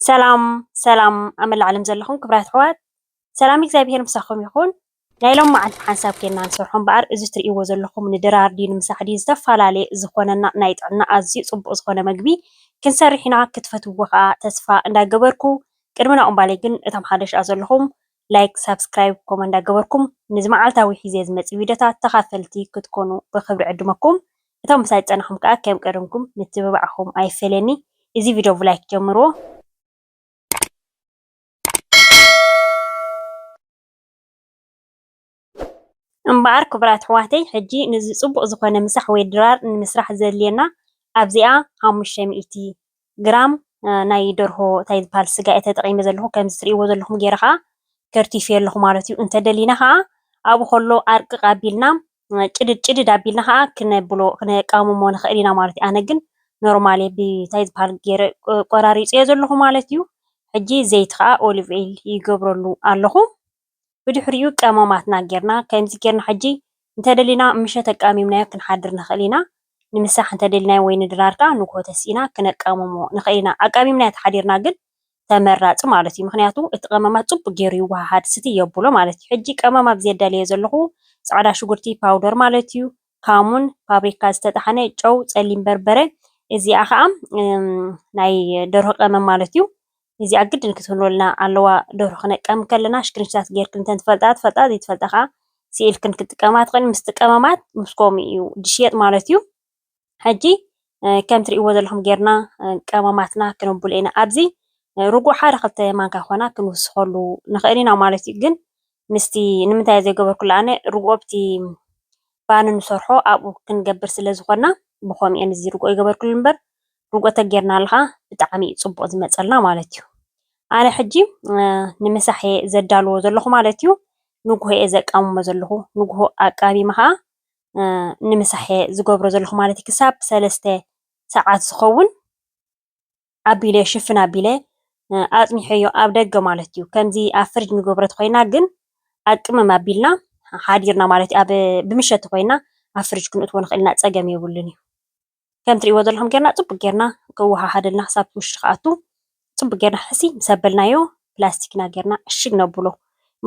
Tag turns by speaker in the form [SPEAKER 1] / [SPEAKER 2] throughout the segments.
[SPEAKER 1] ሰላም ሰላም ኣብ መላእ ዓለም ዘለኹም ክብራት ኣሕዋት ሰላም እግዚኣብሄር ምሳኹም ይኹን። ናይ ሎም መዓልቲ ሓንሳብ ኬና ንሰርሖ እምበኣር እዚ ትርእይዎ ዘለኹም ንድራር ድዩ ንምሳሕ ድዩ ዝተፈላለየ ዝኾነና ናይ ጥዕና ኣዝዩ ጽቡቕ ዝኾነ መግቢ ክንሰርሕ ኢና ክትፈትውዎ ከኣ ተስፋ እንዳገበርኩ ቅድሚ ናኦም ባሌ ግን እቶም ሓደሽኣ ዘለኹም ላይክ ሳብስክራይብ ኮመ እንዳገበርኩም ንዚ መዓልታዊ ሒዜ ዝመጽእ ቪድዮታት ተኻፈልቲ ክትኮኑ ብኽብሪ ዕድመኩም እቶም ምሳይ ዝጸናኹም ከኣ ከም ቀደምኩም ምትብባዕኹም ኣይፈለየኒ እዚ ቪድዮ ብላይክ ጀምርዎ። እምበኣር ክቡራት ኣሕዋተይ ሕጂ ነዚ ጽቡቕ ዝኾነ ምሳሕ ወይ ድራር ንምስራሕ ዘድልየና ኣብዚኣ ሓሙሽተ ሚእቲ ግራም ናይ ደርሆ ታይ ዝብሃል ስጋ እየ ተጠቒመ ዘለኹ ከምዚ ትርእይዎ ዘለኹም ጌረ ኸኣ ከርቲፌዮ ኣለኹ ማለት እዩ እንተደሊና ኸኣ ኣብኡ ከሎ ኣርቅቕ ኣቢልና ጭድድ ጭድድ ኣቢልና ኸኣ ክነብሎ ክነቃምሞ ንኽእል ኢና ማለት እዩ ኣነ ግን ኖርማል እየ ብታይ ዝብሃል ጌረ ቆራሪጸዮ ዘለኹ ማለት እዩ ሕጂ ዘይቲ ኸኣ ኦሊቭ ኦይል ይገብረሉ ኣለኹ ብድሕሪኡ ቀመማትና ጌርና ከምዚ ጌርና ሕጂ እንተደሊና ምሸት ኣቃሚምናዮ ክንሓድር ንኽእል ኢና ንምሳሕ እንተደሊናዮ ወይ ንድራር ከኣ ንግሆ ተሲእና ክነቃምሞ ንኽእል ኢና ኣቃሚምናዮ ተሓዲርና ግን ተመራጺ ማለት እዩ ምኽንያቱ እቲ ቀመማት ጽቡቅ ጌሩ ይወሃሃድ ስትይ የብሎ ማለት እዩ ሕጂ ቀመማት ዘዳልዮ ዘለኹ ጻዕዳ ሽጉርቲ ፓውደር ማለት እዩ ካሙን፣ ፋብሪካ ዝተጠሓነ ጨው፣ ጸሊም በርበረ፣ እዚኣ ከኣ ናይ ደርሆ ቀመም ማለት እዩ። እዚኣ ግድን ክትህልወልና ኣለዋ ደርሆ ክነቀም ከለና ሽክንሽታት ጌርክን እንተ ትፈልጣ ትፈልጣ ዘይትፈልጣ ከኣ ስኢልክን ክትጥቀማ ትኽእል ምስቲ ቀመማት ምስ ከምኡ እዩ ድሽየጥ ማለት እዩ። ሕጂ ከም ትርእይዎ ዘለኹም ጌርና ቀመማትና ክነብሎ ኢና ኣብዚ ርጉእ ሓደ ክልተ ማንካ ኮና ክንውስኸሉ ንኽእል ኢና ማለት እዩ ግን ምስቲ ንምንታይ ዘይገበርኩሉ ኣነ ርግኦ ኣብቲ ባኒ ንሰርሖ ኣብኡ ክንገብር ስለ ዝኾና ብኸምኡ እየ እዚ ርግኦ ይገበርኩሉ እምበር ርግኦ ተጌርናሉ ኸዓ ብጣዕሚ እዩ ፅቡቕ ዝመፀልና ማለት እዩ። ኣነ ሕጂ ንምሳሕ እየ ዘዳልዎ ዘለኹ ማለት እዩ። ንጉሆ እየ ዘቃምሞ ዘለኹ ንጉሆ ኣቃሚመ ኸዓ ንምሳሕ እየ ዝገብሮ ዘለኹ ማለት እዩ። ክሳብ ሰለስተ ሰዓት ዝኸውን ኣቢለ ሽፍን ኣቢለ ኣጽኒሐዮ ኣብ ደገ ማለት እዩ ከምዚ ኣብ ፍርጅ ንገብሮ ተኾይና ግን ኣብ ቅመም ኣቢልና ሓዲርና ማለት ኣብ ብምሸት ተኾይና ኣብ ፍርጅ ክንእትዎ ንኽእል ኢና ጸገም የብሉን እዩ ከም ትርእይዎ ዘለኹም ጌርና ጽቡቅ ጌርና ክወሃሃደልና ክሳብ ውሽጢ ክኣቱ ጽቡቅ ጌርና ሕሲ ምስ ኣበልናዮ ፕላስቲክና ጌርና ዕሽግ ነብሎ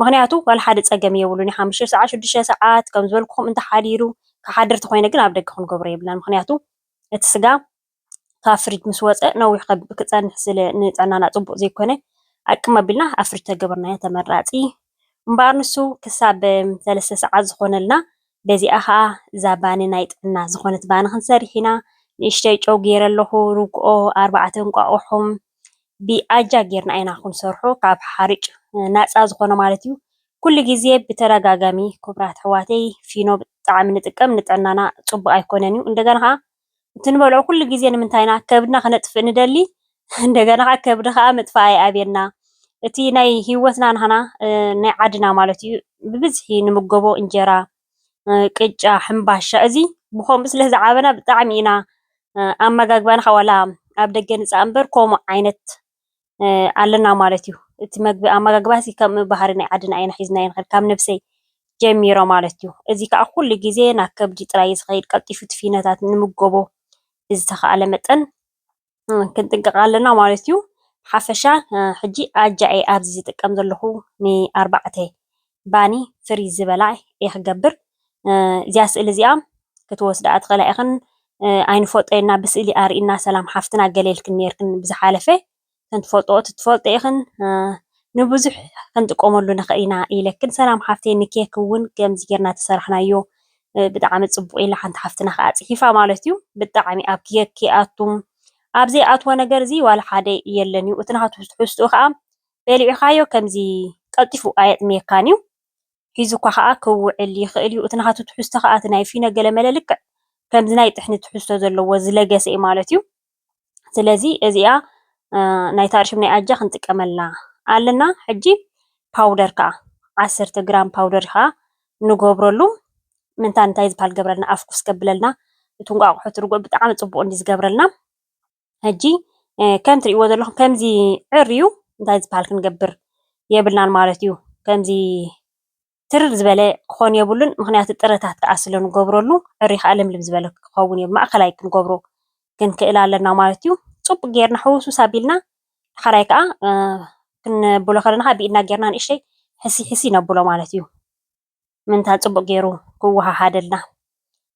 [SPEAKER 1] ምክንያቱ ዋላ ሓደ ጸገም የብሉን እዩ ሓሙሽተ ሰዓት ሽዱሽተ ሰዓት ከም ዝበልኩኹም እንተሓዲሩ ክሓድር ተኾይነ ግን ኣብ ደገ ክንገብሮ የብልናን ምክንያቱ እቲ ስጋ ካብ ፍርጅ ምስ ወፀ ነዊሕ ክፀንሕ ስለ ንጥዕናና ፅቡቅ ዘይኮነ ኣቅም ኣቢልና ኣብ ፍርጅ እንተገበርናዮ ተመራፂ እዩ። እምበኣር ንሱ ክሳብ ሰለስተ ሰዓት ዝኾነልና በዚኣ ከዓ እዛ ባኒ ናይ ጥዕና ዝኾነት ባኒ ክንሰርሕ ኢና። ንእሽተይ ጨው ገይረ ኣለኹ፣ ርግኦ፣ ኣርባዕተ እንቋቑሖ ብኣጃ ጌርና ኢና ክንሰርሖ ካብ ሓርጭ ናፃ ዝኾነ ማለት እዩ። ኩሉ ግዜ ብተደጋጋሚ ክቡራት ኣሕዋተይ ፊኖ ብጣዕሚ ንጥቀም ንጥዕናና ፅቡቅ ኣይኮነን እዩ። እንደገና ከዓ እቲ ንበልዖ ኩሉ ግዜ ንምንታይ ኢና ከብድና ክነጥፍእ ንደሊ እንደገና ከኣ ከብዲ ከኣ ምጥፋእ ኣይኣብየና እቲ ናይ ሂወትና ናህና ናይ ዓድና ማለት እዩ ብብዝሒ ንምገቦ እንጀራ ቅጫ ሕምባሻ እዚ ብከምኡ ስለ ዝዓበና ብጣዕሚ ኢና ኣመጋግባና ከኣ ዋላ ኣብ ደገ ንጻእ እምበር ከምኡ ዓይነት ኣለና ማለት እዩ። እቲ መግቢ ኣመጋግባ እዚ ከም ባህሪ ናይ ዓድና ኢና ሒዝናዮ ንኸይድ ካብ ነብሰይ ጀሚረ ማለት እዩ። እዚ ከዓ ኩሉ ግዜ ናብ ከብዲ ጥራይ እዩ ዝኸይድ ቀልጢፉ እቲ ፊኖታት ንምጎቦ ብዝተኸኣለ መጠን ክንጥንቀቕ ኣለና ማለት እዩ። ሓፈሻ ሕጂ ኣጃ እየ ኣብዚ ዝጥቀም ዘለኹ ንኣርባዕተ ባኒ ፍሪዝ ዝበላ እየ ክገብር እዚኣ ስእሊ እዚኣ ክትወስድኣ ትኽእላ ኢኽን ኣይንፈልጦና ብስእሊ ኣርእና ሰላም ሓፍትና ገለ ኢልክን ነርክን ብዝሓለፈ ከንትፈልጦ ትፈልጦ ኢኽን ንብዙሕ ክንጥቀመሉ ንኽእል ኢና ኢለክን ሰላም ሓፍተይ ንኬክ እውን ከምዚ ጌርና ተሰራሕናዮ ብጣዕሚ ፅቡቅ ኢላ ሓንቲ ሓፍትና ከዓ ፅሒፋ ማለት እዩ ብጣዕሚ ኣብ ኬክ ይኣቱም ኣብ ዘይኣትዎ ነገር እዚ ዋላ ሓደ የለን እዩ እቲ ናቱ ትሕዝትኡ ከዓ በሊዕኻዮ ከምዚ ቀልጢፉ ኣየጥምየካን'ዩ፣ ሒዙካ ኸኣ ክውዕል ይኽእል'ዩ፣ እቲ ናቱ ትሕዝቶ ኸኣ እቲ ናይ ፊኖ ገለመለ ልክዕ ከምዚ ናይ ጥሕኒ ትሕዝቶ ዘለዎ ዝለገሰ'ዩ ማለት'ዩ፣ ስለዚ እዚኣ ናይ ታርሽም ናይ ኣጃ ክንጥቀመላ ኣለና፣ ሕጂ ፓውደር ከኣ ዓሰርተ ግራም ፓውደር ኸኣ ንገብረሉ፣ ምንታ እንታይ ዝብሃል ዝገብረልና ኣፍኩስ ከብለልና፣ እቲ እንቋቑሖ እቲ ርግኦ ብጣዕሚ ጽቡቕ እንድዩ ዝገብረልና። ሕጂ ከም ትርእይዎ ዘለኹም ከምዚ ዕርዩ እንታይ ዝበሃል ክንገብር የብልናን ማለት እዩ። ከምዚ ትርር ዝበለ ክኾን የብሉን ምኽንያቱ ጥረታት ክኣ ስለ ንገብረሉ ዕርዩ ክኣ ልምልም ዝበለ ክኸውን የብሉን ማእከላይ ክንገብሮ ክንክእል ኣለና ማለት እዩ። ጽቡቕ ጌርና ሕውስውስ ኣቢልና ዳሓራይ ክኣ ክነብሎ ከለና ክኣ ብኢድና ጌርና ንእሽተይ ሕስይ ሕስይ ነብሎ ማለት እዩ። ምንታ ጽቡቅ ጌሩ ክወሃሃደልና።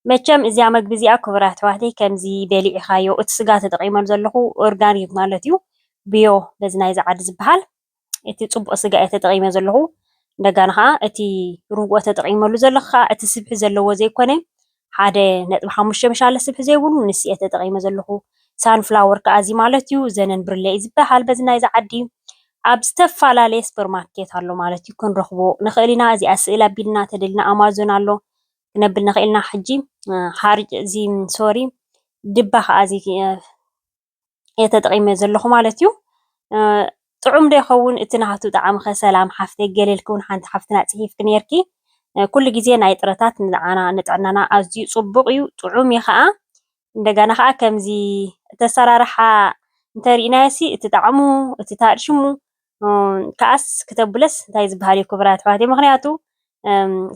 [SPEAKER 1] መቸም እዚኣ መግቢ እዚኣ ክቡር ኣሕዋተይ ከምዚ በሊዒካዮ እቲ ስጋ ተጠቂመሉ ዘለኩ ኦርጋኒክ ማለት እዩ ብዮ በዚ ናይዚ ዓዲ ዝበሃል እቲ ጽቡቅ ስጋ እየ ተጠቂመ ዘለኩ እንደጋና ከኣ እቲ ርጉኦ ተጠቂመሉ ዘለኩ ከኣ እቲ ስብሒ ዘለዎ ዘይኮነ ሓደ ነጥቢ ሓሙሽተ መሻለ ስብሒ ዘይብሉ ንስ እየ ተጠቂመ ዘለኩ ሳን ፍላወር ካኣ እዚ ማለት እዩ ዘነን ብርለ እዩ ዝባሃል በዚ ናይዚ ዓዲ ኣብ ዝተፋላለየ ስፐር ማርኬት ኣሎ ማለት እዩ ክንረክቦ ንክእል ኢና እዚኣ ስእል ኣቢልና ተደልና ኣማዞን ኣሎ ክነብል ንክእል ኢና ሕጂ ሓርጭ እዚ ሶሪ ድባ ካኣ እዚ እየ ተጠቂመ ዘለኩ ማለት እዩ። ጥዑም ዶ ይከውን እቲ ናሃቱ ጣዕሚ ከ ሰላም ሓፍተይ ገለ ኢልኪ ውን ሓንቲ ሓፍትና ጺሂፍኪ ኔርኪ ኩሉ ግዜ ናይ ጥረታት ንዓና ንጥዕናና ኣዝዩ ጽቡቅ እዩ ጥዑም እዩ ከኣ እንደገና ከኣ ከምዚ እቲ ኣሰራርሓ እንተ ሪኢናዮ ሲ እቲ ጣዕሙ እቲ ሽሙ ከኣስ ክተብለስ እንታይ ዝበሃል እዩ ክቡራት ኣሕዋተይ ምክንያቱ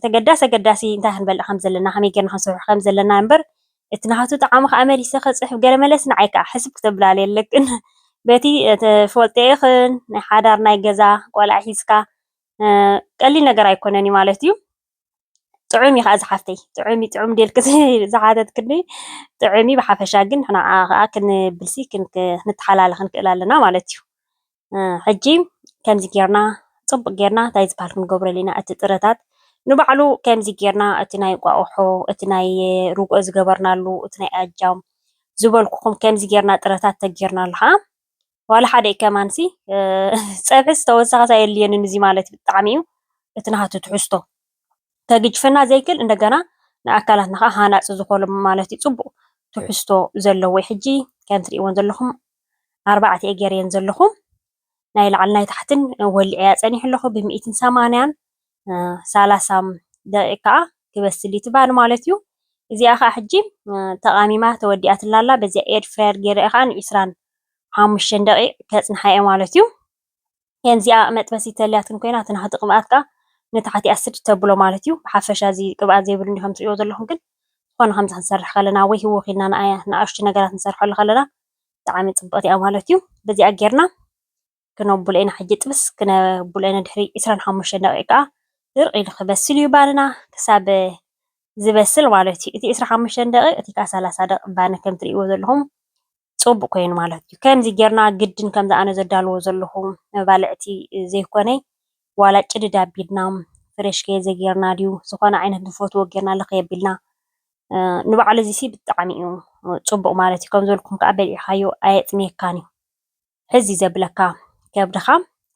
[SPEAKER 1] ተገዳሲ ኣገዳሲ እንታይ ክንበልዕ ከም ዘለና ከመይ ጌርና ክንሰርሑ ከም ዘለና እምበር እቲ ናቱ ጣዕሚ ከዓ መሊሰ ክፅሕፍ ገለ መለስ ንዓይ ከዓ ሕስብ ክተብላለ የለክን በቲ ትፈልጦ ኢኽን ናይ ሓዳር ናይ ገዛ ቆልዓ ሒዝካ ቀሊል ነገር ኣይኮነን እዩ ማለት እዩ ጥዑም እዩ ከዓ ዝሓፍተይ ጥዑም እዩ ጥዑም ዴልክ ዝሓተትክኒ ጥዑም እዩ ብሓፈሻ ግን ንዓ ከዓ ክንብልሲ ክንተሓላልኽ ንክእል ኣለና ማለት እዩ ሕጂ ከምዚ ጌርና ጽቡቕ ጌርና ታይ ዝባሃል ክንገብሮ ኣሊና እቲ ጥረታት ንባዕሉ ከምዚ ጌርና እቲ ናይ እንቋቑሖ እቲ ናይ ርግኦ ዝገበርናሉ እቲ ናይ ኣጃ ዝበልኩኹም ከምዚ ጌርና ጥረታት ተጌርናሉ ኸኣ ዋላ ሓደ ከማንሲ ጸብሒ ዝተወሰኸ ታይ ኣየድልየንን እዚ ማለት እዩ ብጣዕሚ እዩ እቲ ናሃቱ ትሕዝቶ ከግጅፈና ዘይክል እንደገና ንኣካላትና ኸኣ ሃናጺ ዝኾኑ ማለት እዩ ጽቡቕ ትሕዝቶ ዘለዎ እዩ ሕጂ ከም ትርእይወን ዘለኹም ኣርባዕቲኤ ጌሬየን ዘለኹ ናይ ላዕልን ናይ ታሕትን ወሊዐያ ጸኒሑ ኣለኹ ብሚእትን ሰማንያን ሰላሳም ደቂቅ ከዓ ክበስል እዩ ትበሃል ማለት እዩ እዚኣ ከዓ ሕጂ ተቃሚማ ተወዲኣትላ ኣላ በዚኣ ኤድ ፍራየር ጌረ ከዓ ንዒስራን ሓሙሽተን ደቂቅ ከጽንሓ እየ ማለት እዩ ዚኣ መጥበሲ ተልያትን ኮይና እቲ ናህቲ ቅብኣት ከኣ ንታሕቲ ኣስድ ተብሎ ማለት እዩ ብሓፈሻ እዚ ቅብኣት ዘይብሉ እንዲኹም ትሪእዎ ዘለኹም ግን ዝኾነ ከምዚ ክንሰርሕ ከለና ወይ ህውኽ ኢልና ንኣሽቱ ነገራት ንሰርሐሉ ከለና ብጣዕሚ ፅብቕቲ እያ ማለት እዩ በዚኣ ጌርና ክነብሎ ኢና ሕጂ ጥብስ ክነብሎ ኢና ድሕሪ ዕስራን ሓሙሽተን ደቂቕ ከኣ ድርቕ ኢሉ ክበስል እዩ ባንና ክሳብ ዝበስል ማለት እዩ እቲ ዕስራን ሓሙሽተን ደቂቕ እቲ ከኣ ሰላሳ ደቂቕ ባኒ ከም ትሪእዎ ዘለኹም ጹቡቅ ኮይኑ ማለት እዩ ከምዚ ጌርና ግድን ከምዚ ኣነ ዘዳልዎ ዘለኩ መባልዕቲ ዘይኮነ ዋላ ጭድድ ኣቢልና ፍሬሽ ከይዘጌርና ድዩ ዝኮነ ዓይነት ንፈትዎ ጌርና ልክይ ኣቢልና ንባዕሉ እዚ ሲ ብጣዕሚ እዩ ጹቡቅ ማለት እዩ ከምዚ በልኩም ከኣ በሊዕካዮ ኣየጽምየካን እዩ። ሕዚ ዘብለካ ከብድኻ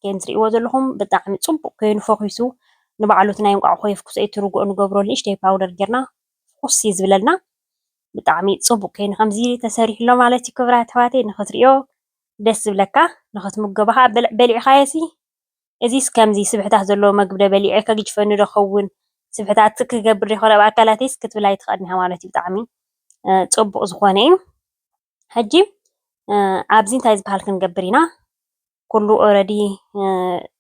[SPEAKER 1] ከምቲ ትሪእዎ ዘለኹም ብጣዕሚ ፅቡቕ ኮይኑ ፈኺሱ ንባዕሉ እቲ ናይ እንቋቑሖ የፍኩሶ እዩ እቲ ርጉኦ ንገብረሉ ንእሽተይ ፓውደር ጌርና ፍኹስ እዩ ዝብለልና ብጣዕሚ ፅቡቕ ኮይኑ ከምዚ ተሰሪሑ ኣሎ ማለት እዩ ክብራት ኣሕዋተይ ንኽትሪኦ ደስ ዝብለካ ንኽትምገቦ ከዓ በልዕ በሊዕኻዮሲ እዚስ ከምዚ ስብሕታት ዘለዎ መግቢ ዶ በሊዐ ከግጅፈኒ ዶ ኸውን ስብሕታት ክገብር ዶ ይኸውን ኣብ ኣካላተይስ ክትብል ኣይትኽእልን ኢኻ ማለት እዩ ብጣዕሚ ፅቡቕ ዝኾነ እዩ። ሕጂ ኣብዚ እንታይ ዝበሃል ክንገብር ኢና? ኩሉ ኦረዲ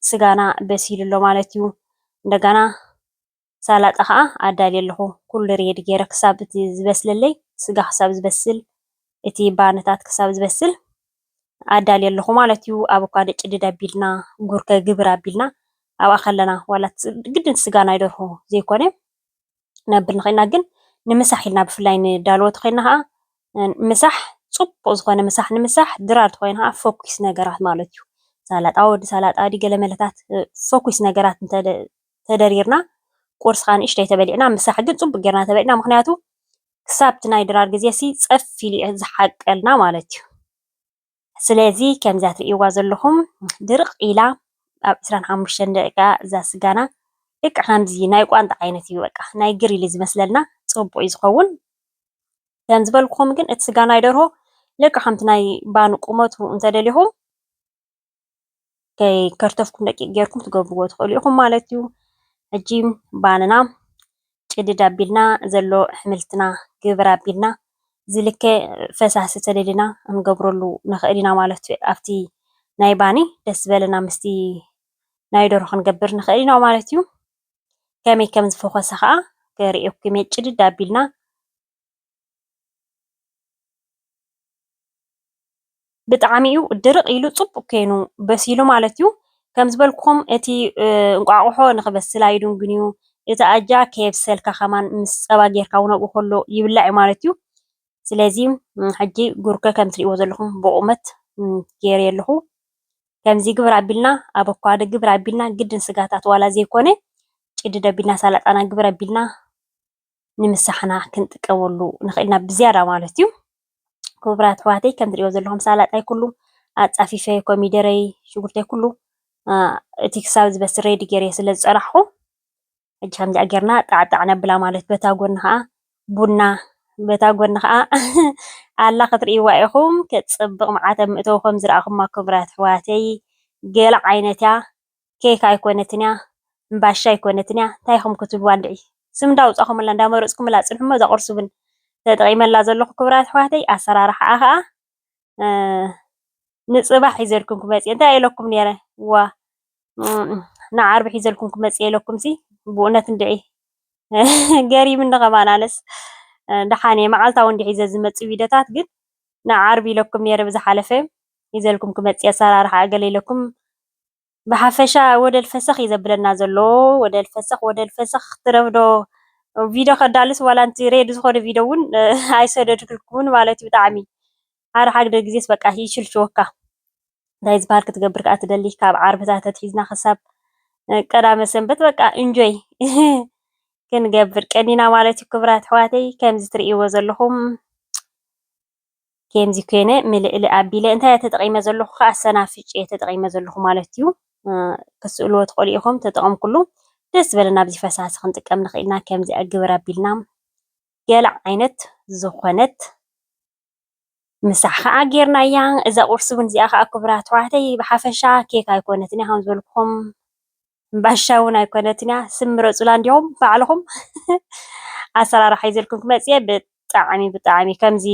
[SPEAKER 1] ስጋና በሲሉ ኣሎ ማለት እዩ። እንደገና ሳላጣ ከዓ ኣዳልየ ኣለኹ ኩሉ ሬዲ ገይረ ክሳብ እቲ ዝበስለለይ ስጋ ክሳብ ዝበስል እቲ ባንታት ክሳብ ዝበስል ኣዳልየ ኣለኹ ማለት እዩ። ኣቮካዶ ጭድድ ኣቢልና ጉርከ ግብር ኣቢልና ኣብኣ ከለና ዋላ ግድን ስጋ ናይ ደርሆ ዘይኮነ ክነብር ንኽእልና ግን ንምሳሕ ኢልና ብፍላይ ንዳልቦት ኮይና ኸኣ ምሳሕ ጽቡቕ ዝኾነ ምሳሕ ንምሳሕ ድራር ተኾይኑ ኸኣ ፈኲስ ነገራት ማለት እዩ። ሳላጣ ወዲ ሳላጣ ድዩ ገለመለታት ፈኲስ ነገራት እንተ ተደሪርና ቁርሲ ኸኣ ንእሽተይ ተበሊዕና ምሳሕ ግን ጽቡቕ ጌርና ተበሊዕና ምኽንያቱ ክሳብ'ቲ ናይ ድራር ግዜሲ ጸፍ ኢሉ እዩ ዝሓቀልና ማለት እዩ። ስለዚ ከምዛ ትርእይዋ ዘለኹም ድርቅ ኢላ ኣብ ዕስራን ሓሙሽተን ደቂቃ እዛ ስጋና ልክዕ ከምዚ ናይ ቋንጣ ዓይነት እዩ በቃ ናይ ግሪል እዩ ዝመስለና ጽቡቅ እዩ ዝኸውን ከም ዝበልኩም ግን እቲ ስጋ ናይ ደርሆ ልክዕ ከምቲ ናይ ባኒ ቁመቱ እንተደሊኹም ከይከርተፍኩም ደቂቅ ጌርኩም ክትገብርዎ ትኽእሉ ኢኹም ማለት እዩ። ሕጂ ባንና ጭድድ ኣቢልና ዘሎ ኣሕምልትና ግብር ኣቢልና ዝልከ ፈሳሲ ተደሊና ክንገብረሉ ንኽእል ኢና ማለት እዩ። ኣብቲ ናይ ባኒ ደስ ዝበለና ምስቲ ናይ ደርሆ ክንገብር ንኽእል ኢና ማለት እዩ። ከመይ ከም ዝፈኾሰ ከዓ ክርእየኩም እየ ጭድድ ኣቢልና ብጣዕሚ እዩ ድርቅ ኢሉ ፅቡቅ ኮይኑ በሲሉ ማለት እዩ። ከም ዝበልኩኹም እቲ እንቋቁሖ ንኽበስል ኣይድንጉን እዩ። እቲ ኣጃ ከየብሰልካ ከማን ምስ ፀባ ጌርካ እውን ኣብኡ ከሎ ይብላዕ እዩ ማለት እዩ። ስለዚ ሕጂ ጉርከ ከም እትሪእዎ ዘለኹም ብቑመት ገይረዮ ኣለኹ። ከምዚ ግብር ኣቢልና ኣቮካዶ ግብር ኣቢልና ግድን ስጋታት ዋላ ዘይኮነ ጭድድ ኣቢልና ሳላጣና ግብር ኣቢልና ንምሳሕና ክንጥቀመሉ ንኽእል ኢና ብዝያዳ ማለት እዩ። ክቡራት ኣሕዋተይ ከም ትሪእዎ ዘለኹም ሳላጣይ ኩሉ ኣፃፊፈ ኮሚደረይ ሽጉርተይ ኩሉ እቲ ክሳብ ዝበስል ሬዲ ገይረ ስለ ዝፀናሕኹ ሕጂ ከምዚኣ ጌርና ጣዕጣዕ ነብላ ማለት በታ ጎኒ ከዓ ቡና በታ ጎኒ ከዓ ኣላ ክትርእይዋ ኢኹም። ክፅብቕ መዓት ኣብ ምእተው ከም ዝረኣኹማ ክቡራት ኣሕዋተይ ገለ ዓይነት እያ። ኬክ ኣይኮነትንያ እምባሻ ኣይኮነትንያ ታይ ኢኩም ክትብልዋ እንድዒ ስም እንዳውፃኩምላ እንዳመረፅኩምላ ፅንሑሞ እዛ ቁርሲ ውን ተጠቂመላ ዘለኩ ክብራት ኣሕዋተይ ኣሰራርሓኣ ከዓ ንፅባሕ ሒዘልኩም ክመፅየ እንታይ ኢለኩም ነይረ ዋእ ንዓርቢ ሒዘልኩም ክመፅየ ኢለኩምሲ ብእውነት እንድዒ ገሪምኒ ከማን ኣነስ ደሓን እየ መዓልታዊ እንዲ ሒዘ ዝመፅእ ቪድዮታት ግን ንዓርቢ ኢለኩም ነይረ ብዝሓለፈ ሒዘልኩም ክመፅየ ኣሰራርሓኣ ገለ ኢለኩም ብሓፈሻ ወደል ፈሰኽ እዩ ዘብለና ዘሎ ወደል ፈሰኽ ወደል ፈሰኽ ትረብዶ ቪድዮ ከዳልስ ዋላ እንቲ ሬድ ዝኾነ ቪድዮ እውን ኣይሰደድክልኩምን ማለት እዩ ብጣዕሚ ሓደ ሓግደ ግዜስ በቃ ይሽልሽወካ እንታይ ዝበሃል ክትገብር ከዓ ትደሊ ካብ ዓርብታት ተትሒዝና ክሳብ ቀዳመ ሰንበት በቃ እንጆይ ክንገብር ቀኒና ማለት እዩ ክብራት ኣሕዋተይ ከምዚ ትርእይዎ ዘለኹም ኬምዚ ኮይነ ምልእሊ ኣቢለ እንታይ እየ ተጠቒመ ዘለኹ ከዓ ሰናፍጭ እየ ተጠቒመ ዘለኹ ማለት እዩ። ክትስእልዎ ትኽእሉ ኢኹም ተጠቐምኩሉ። ደስ ዝበለና ኣብዚ ፈሳሲ ክንጥቀም ንኽእልና ከምዚ ግብር ኣቢልና ገለ ዓይነት ዝኾነት ምሳሕ ከዓ ጌርናያ። እዛ ቁርሲ እውን እዚኣ ከዓ ክቡራት ኣሕዋተይ ብሓፈሻ ኬክ ኣይኮነትን እያ ከም ዝበልኩኹም ሕምባሻ ውን ኣይኮነትን እያ ስም ምረፁላ እንዲኹም ባዕልኹም ኣሰራርሓ ሒዘልኩም ክመፅ እየ ብጣዕሚ ብጣዕሚ ከምዚ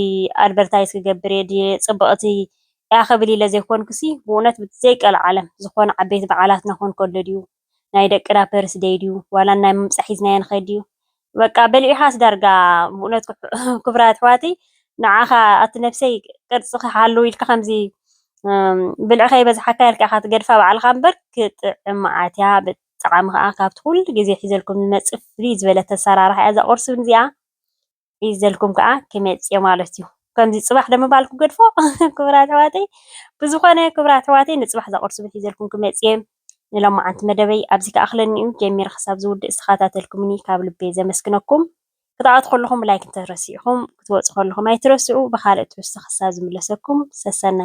[SPEAKER 1] ኣድቨርታይዝ ክገብር እየ ድየ ፅብቕቲ እያ ክብል ኢለ ዘይኮንኩሲ ብእውነት ብዘይ ቀልዓለም ዝኾነ ዓበይቲ በዓላትና ክኾን ከሎ ድዩ ናይ ደቅና ፐርስ ደይ ድዩ ዋላ ናይ ምምፃእ ሒዝናዮ ንኸይድ ድዩ በቃ በሊዕኻስ ዳርጋ ብእውነት ክብራት ኣሕዋተይ ንዓኻ ኣቲ ነብሰይ ቅርጺ ክሓሉ ኢልካ ከምዚ ብልዒ ከይበዝሓካ ኢልካ ኢኻ ትገድፋ ባዕልኻ እምበር ክጥዕም መዓት እያ ብጣዕሚ ከዓ ካብቲ ኩሉ ግዜ ሒዘልኩም ዝመጽእ ፍልይ ዝበለት ኣሰራርሓ እያ እዛ ቁርሲ እዚኣ ሒዘልኩም ከዓ ክመጽእ እየ ማለት እዩ ከምዚ ጽባሕ ደሞ በዓል ክገድፎ ክብራት ኣሕዋተይ ብዝኾነ ክብራት ኣሕዋተይ ንጽባሕ እዛ ቁርሲ ሒዘልኩም ክመጽእ እየ ንሎማዓንቲ መደበይ ኣብዚ ክኣኽለኒ'ዩ ጀሚረ ክሳብ ዝውድእ ዝተኻታተልኩምኒ ካብ ልቢ ዘመስግነኩም ክትኣቱ ከለኹም ላይክ እንተረሲዕኹም ክትወጹ ከለኹም ኣይትረስዑ ብኻልእ ትሕዝቶ ክሳብ ዝምለሰኩም ሰሰናዩ።